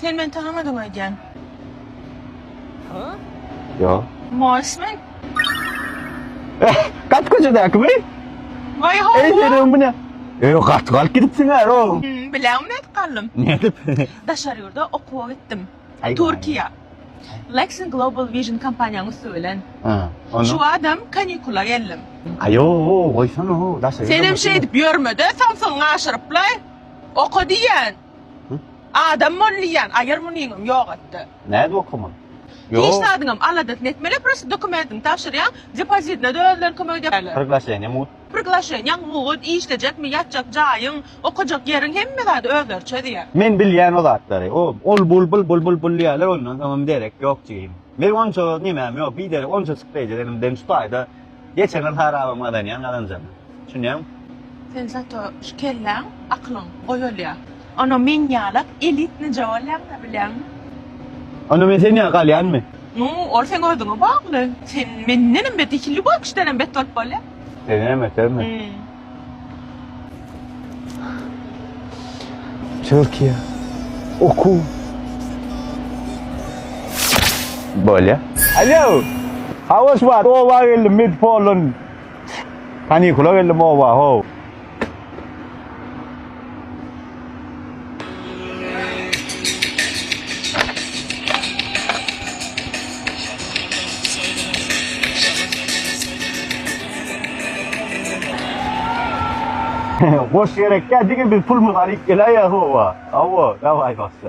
Sen meni tanamadyň öýdýän. Ýok. Mols men. Gat köçedäkimi? Waý hawa. Eý senem bu ne? Eý gat galyp gidipsiň hä o. Bileňmi nädip galdym? Nädip? Daşary ýurda okuwa gitdim. Türkiýä. Lexin Global Vision kompaniýanyň üsti bilen. Hä. Onda? Şu badam kanikula geldim. Aýo goýsana o daşary ýurda. Senem şeýdip ýörme-de, samsygyňy aşyryplaý. Oka diýýän. Adam bol diýýän aýyr munyňam ýogatdy. Nädip okaman? Hiç zadyňam aladasyny etmeli prosta dokumentini tabşyrýaň depozitine-de özleri kömek edýärler. Priglaşeniýa mugt. Priglaşeniýaň mugt, işlejekmi, ýatjak jaýyň, okajak ýeriň hemme zady özleri çözýär. Men bilýän o zatlary. O ol bul bul bul bul bul diýýärler ondan soňam derek ýok jigim. Meniň onça nemem ýok biderek onçajyk derejelenimden şu taýda Geçen gyz harabam gazanýan gazanjak. Düşünýäňmi? Sen zato şu kelläň, aklyň gowy bolýa. Onda men ýalak elitnyja bolýaňda bilýäňmi? Onda men sen ýaly galýanmy? Nu, ol seň özüňe bagly. Sen mendenem bet, iki Lýubokişdenem bet bolup bolýa. Senenem ötermi? Türkiýe. Oku. Bolýa. Alo. Hawaş bar. Oba geldim. Med polun. Panikula geldim oba. Ho. Boş gerekde digi biz pulmuz alyp geläýýä howa. Hawa, dawai başla.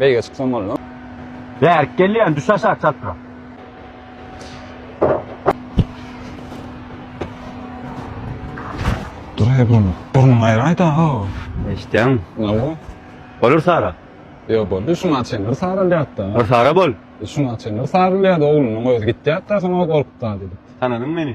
Beýige çyksaň bolmaz. Bärik gelýän düş aşak çatrak. Duray bunu. Burnuň aýraý da ho. Eşitýäňmi? Nawa. Bolar sara. Ýok boldy şuňa çen bir sarylýat da. Bir sara bol. Şuňa çen bir sarylýat oglunyň özi gitýat da soň o gorkup da diýdi. Tananyň meni.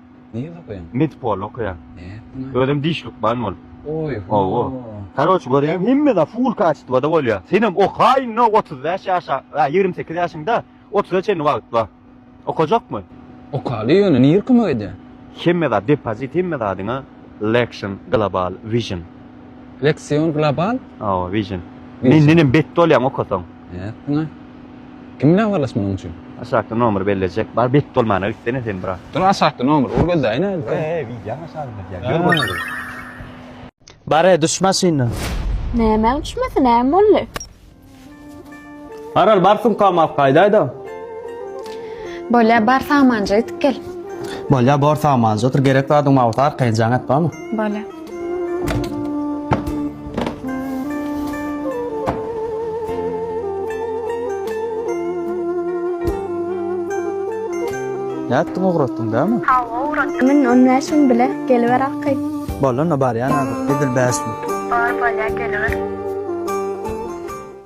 Ne ýerde okaýaň? Medpol okaýan. Nätdiňä? Özem diş lukman bolup. Oý ho. Hawa. Karoç görýäň hemme zat full kaçitwada bolýa. Senem oka indi otuz bäş ýaşa, a ýigrimi sekiz ýaşyňda otuza çenli wagt bar. Okajakmy? Okaly ýöne nirä kömek edýä? Hemme zat depozit hemme zadyňa Lexion Global Vision. Lexion Global? Hawa Vision. Mendenem bet bolýaň okasaň. Nädip muňa? Kim bilen habarlaş munuň üçin? Aşakda nomer bellejek. Bar bet bolmana gitsene sen bra. Dur aşakda nomer ur gözleýin hä. He he wideoň aşagyna ýaz. Ýör bolsun. Bare düş maşyndan. Nämäň düşmesi näme boldy? Maral bar sumkamy alyp gaýdaýda. Bolýa bar samanjy itip gel. Bolýa bor samanjy otur gerek zadyň bolsa arkaýynjaň et bamy. Bolýa. Nätdiň ugratdyň dämi? Hawa ugratdym. Men on bäş müň bile geliber aky. Bolanda barýan azyr. Edil bäş müň. Bar bolýa geliber.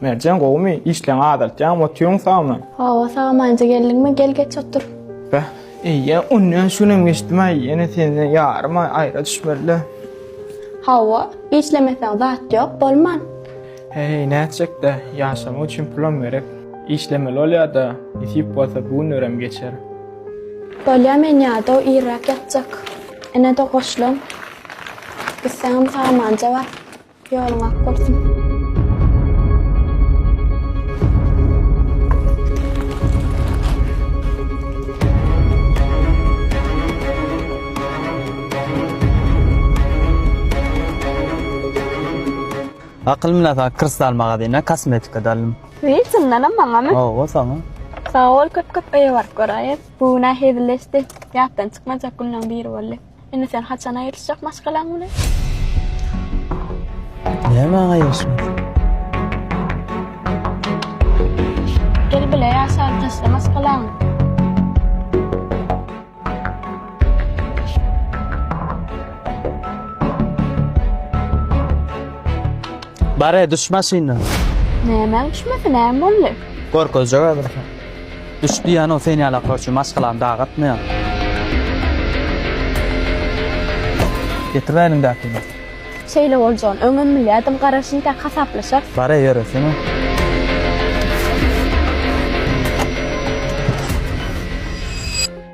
Merjen gowumy? Işleň azaltýaňmy, otyuň sagmy? Hawa sagamanja geldiňmi? Gel geç otur. Beh, Eýýe, ony şu günem geçdim-aý, ýene senden ýaryma aýra düşmeli-dä. Hawa, işlemeseň zat ýok, bolman. Heý, nätjek-dä, ýaşamak üçin pulam gerek. Işlemeli bolýa-da, nesip bolsa bu günlerem geçer. Bolýa, men ýadaw, irräk ýatjak. Ine-de goşlam. Gitseňem samanja bar. Ýoluň ak bolsun. Akyl münasap kristal magazyna kosmetika daldym. Wiý, çyndanam maňamy? Hawa, saňa. Sag bol köp-köp öýe baryp göräýeris. Bu günä hezilleşdi. Ýatdan çykmajak günleň biri boldy. Indi sen haçan aýrylyşjak maşgalaň bilen? Näme aýrylyşmak? Gel bile ýaşaly taşla maşgalaňy. Bare düş maşyndan. Nämäň düşmesi näme boldy? Gorkuzjak hazir. Düş diýýänow sen ýala körçi maşgalany daga atmaýan. Getir-ä eliňdäkini. Şeýle boljagyny öňem bilýärdim, garaşyn tä hasaplaşarys. Bar-a ýöresene.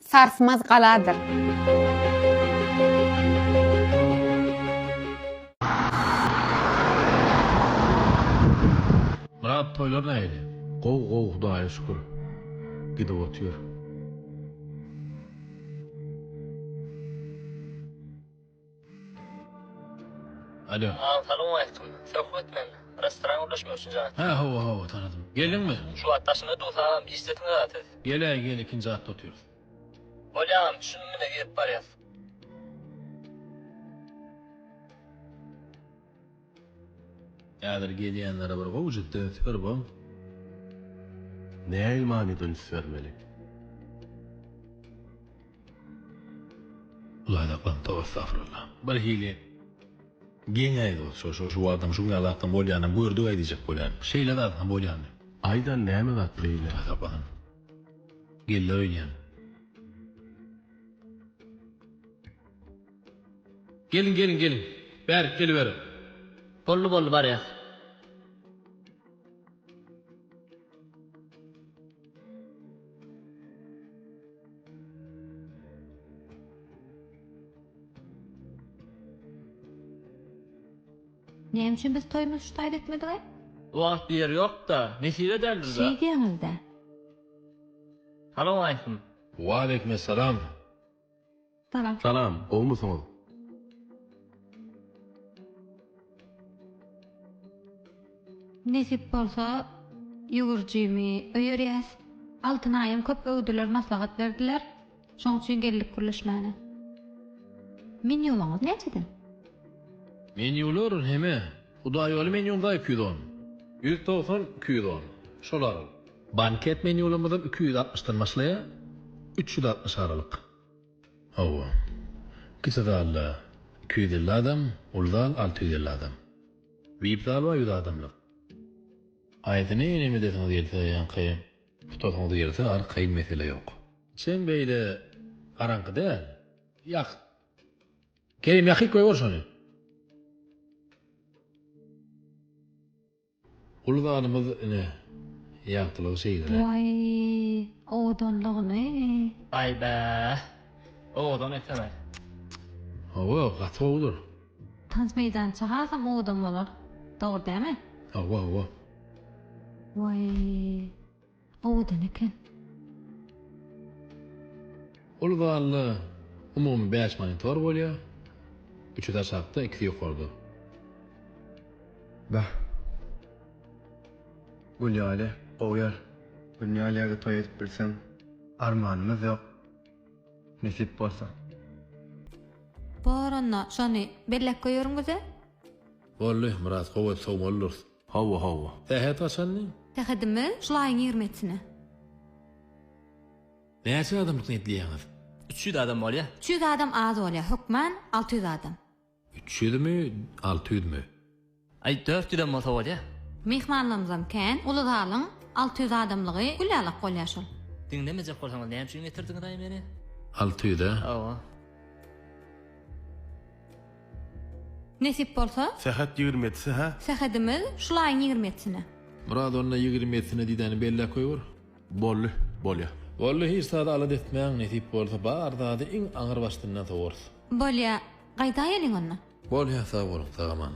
Sarsmaz galadyr. Myrat toýlar nähili? Gowy gowy hudaýa şükür gidip otyr. Alo. Salam aleýkum. Söhbet men. Restoran gurluşmak üçin jaý. Hä hawa hawa tanadym. Geldiňmi? Şu wagt daşyňda duz agam işdesiňiz a siz. Geläý gel ikinji gatda otyrys. Bolýa agam düşündim ine girip barýas. Häzir gezýänlere bir gowjukdan üns ber bol. Nähili manyda üns bermeli? Laýdaklap toba estagfirullah. Birhili geň aýt ol şo şo şu wagtam şu günä zatdan bolýanam gördügaý diýjek bolýan. Şeýle zat hem bolýandy. Aýdan näme zat beýle? Gazaplanan. Geller öýdýän. Geliň geliň geliň bärik geliberiň. Boldy boldy barýas. Näme üçin biz toýumyzy şu taýda etmedigay? Wagt ýer ýokda, nesip ederdir da. Şeýdýäňiz-dä. Salowmaleýkim. Waleýkimessalam. Salam. Salam, gowmysyňyz? Nesip bolsa ýüwürjimi öýerýäs. Altyn aýam köp öwdüler, maslahat berdiler. Şoň üçin geldik gürleşmäne. Menýuňyz näçeden? Menýular heme. Hudaýýoly menýum da iki ýüz on. Ýüz togsan, iki ýüz on. Şolar. Banket menýularymyzyň iki ýüz altmyşdan başlaýar, üç ýüz altmyş aralyk. Hawa. Kiçi zalda iki ýüz elli adam, uly zal alty ýüz elli adam. Vip zal bar ýüz adamlyk. Haýsy menýuny edesiňiz gelse, ýaňky tutasyňyz gelse al, kyn mesele ýok. Içem beýle garaňky däl. Ýakyt. Kerim ýakyp goýber şony. Uly zanymyz ine ýagtylygy şeýdire. Waý owadanlygyny. Aýbäh. Owadan ekeler. Hawa gaty gowudyr. Tans meýdança hasam owadan bolar. Dogry dämi? Hawa hawa. Waý. Owadan eken. Ol zalda umumy bäş monitor bolýar, üçüsi aşakda, ikisi ýokarda. Bah. Gül ýaly gowy ýer. Gül ýaly ýerde toý edip bilseň. Armanymyz ýok. Nesip bolsa. Bar onda, şony bellek goýaryn güze. Boldy, biraz gowy et sowmalydyrys. Hawa hawa. Sähet gaçandy? Sähedimi? Şul aýyň ýigrimi etine. Näçe adamlyk niýetleýäňiz? Üç ýüz adam bolýa. Üç ýüz adam az bolýa hökman alty ýüz adam. Üç ýüzmi? Alty ýüzmi? Aý dört ýüzem bolsa bolýa. Myhmanlarymyzam kän. Uly zalyň alty ýüz adamlygy gül ýalak bolýa şol. Diňlemejek bolsaňyz näme üçin getirdiňiz aý meni? Alty ýüz-ä? Hawa. Nesip bolsa. Sähet ýigrimi ýedisi, hä? Sähedimiz şul aýyň ýigrimi ýedisine. Myrat onda ýigrimi ýedisine didäni belläp goýber. Boldy, bolýa. Boldy, hiç zady alada etmäň, nesip bolsa, bar zady iň aňyr başdyndan sowarys. Bolýa, gaýdaýeliň onda. Bolýa, sag boluň, sag-aman.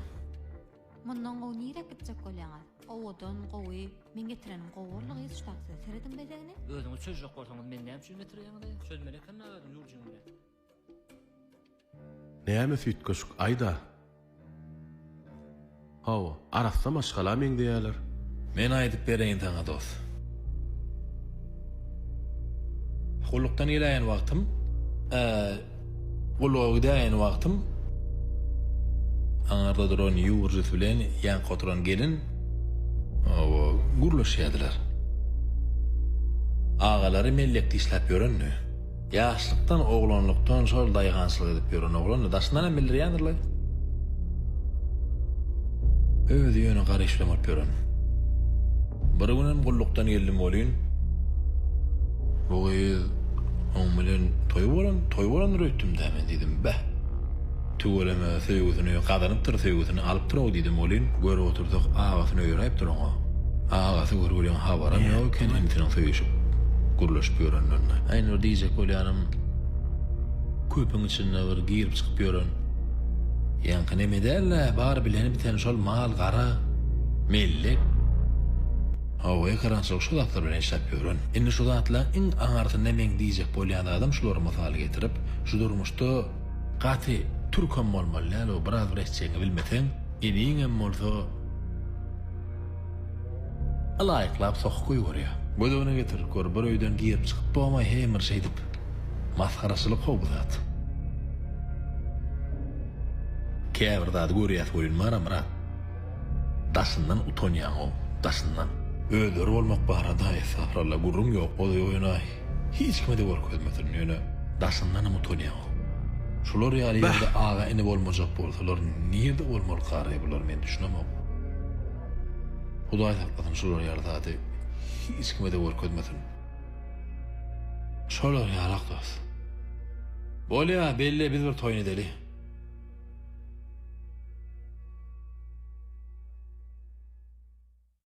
Mundan gowy nirek gitjek bolýaňyz? Owadan, gowy. Men getirenim gowy boldy gyz şu takside. Serediň bezegine. Özüňiz çözjek bolsaňyz meni näme üçin getirýäňiz-eý? Çözmeli ekenle özüň ýurjyňy. Näme süýtgeşik, aýda. Hawa, arassa maşgala meňzeýäler. Men aýdyp bereýin saňa dos. Gullukdan geläýen wagtym, a, gulluga gidäýen wagtym, aňarda duran ýurjus bilen ýanka oturan gelin, hawa, gürleşýärdiler. Agalary mellek dişläp ýöreni. Ýaşlykdan, oglanlykdan şol daýhançylyk edip ýören oglan-da, daşyndanam bildirýändir-le. Özi ýöne gara iş bilen bolup ýören. Bir günem gullukdan geldim welin, Bu gyz oň bilen toý bolan, toý bolandyr öýtdüm-dä men, diýdim. Beh! Tüweleme, söýgüsini gazanypdyr, söýgüsini alypdyr-ow diýdim welin, görüp otursak, agasyny öýräýipdir oňa. Agasy görgüliň habaram ýok eken inisiniň söýüşip, gürleşip ýörenlerine. Aýna bir diýjek bolýanym, köpüň içinde bir girip-çykyp ýören. Ýaňky neme däl-ä, bar bileni-biteni şol mal, gara, mellek. Hawa, ekerançylyk şu zatlar bilen işläp ýören. Indi şu zatlaryň iň aňyrsynda meň diýjek bolýan zadym şulary mysal getirip, şu durmuşda, Gaty türkem bolmaly däl o biraz bir eşjegiňi bilmeseň eniňem bolsa ylaýyklap sokup goýberýä. Gözüne getirip gör bir öýden girip çykyp bomaý heý bir şeýdip. Masgaraçylyk how bu zat. Käbir zady görýäs oýun bara brat. Daşyndan utanýaň ow daşyndan. Özleri bolmak barada estagfuralla gürrüň ýok oz oýunaý. Hiç kime-de görkezmesin, ýöne daşyndanam utanýaňok. Şular ýaly ýerde aga-ini bolmajak bolsalar, nirde bolmaly Garry bular, men düşünemok. Hudaý saklasyn şular ýaly zady hiç kime-de görkezmesin. Şolar ýalak dost. Bolýa, belle biz bir toýun edeli.